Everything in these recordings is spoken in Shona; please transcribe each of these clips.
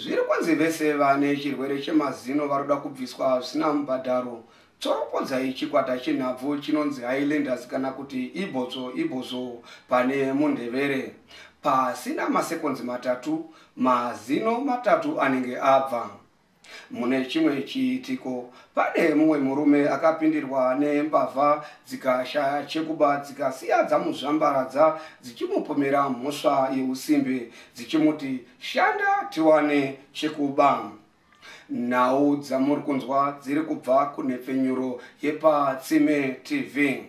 Zviri kunzi vese vane chirwere chemazino varoda kubviswa zvisina mubhadharo. Tsoropodzai chikwata chenhabvu chinonzi Highlanders kana kuti Ibotso Ibozo pane Mundevere. Pasina masekonzi matatu, mazino matatu anenge abva. Mune chimwe chiitiko, pane mumwe murume akapindirwa nembavha dzikashaya chekuba dzikasiya dzamuzvambaradza dzichimupomera mhosva yeusimbe dzichimuti shanda tiwane chekuba. Nhau dzamuri kunzwa dziri kubva kunhepfenyuro yepaTsime TV.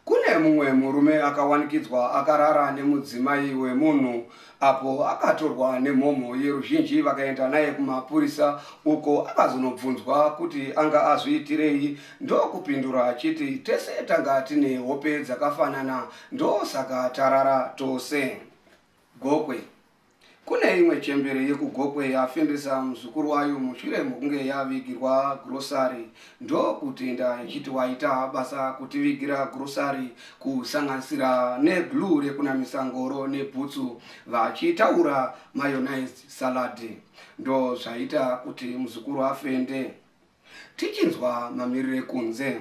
Kune mumwe murume akawanikidzwa akarara nemudzimai wemunhu apo akatorwa nemhomho yeruzhinji vakaenda naye kumapurisa uko akazonobvunzwa kuti anga azviitirei ndokupindura achiti tese tanga tine hope dzakafanana ndosaka tarara tose gokwe Kune imwe chembere yekuGokwe yafendesa muzukuru wayo mushure mokunge yavigirwa gurosari ndokutenda ichiti waita basa kutivigira gurosari kusanganisira neglue rekunamisa ngoro nebhutsu vachitaura mayonized salad ndozvaita kuti muzukuru afende. Tichinzwa mamirire kunze.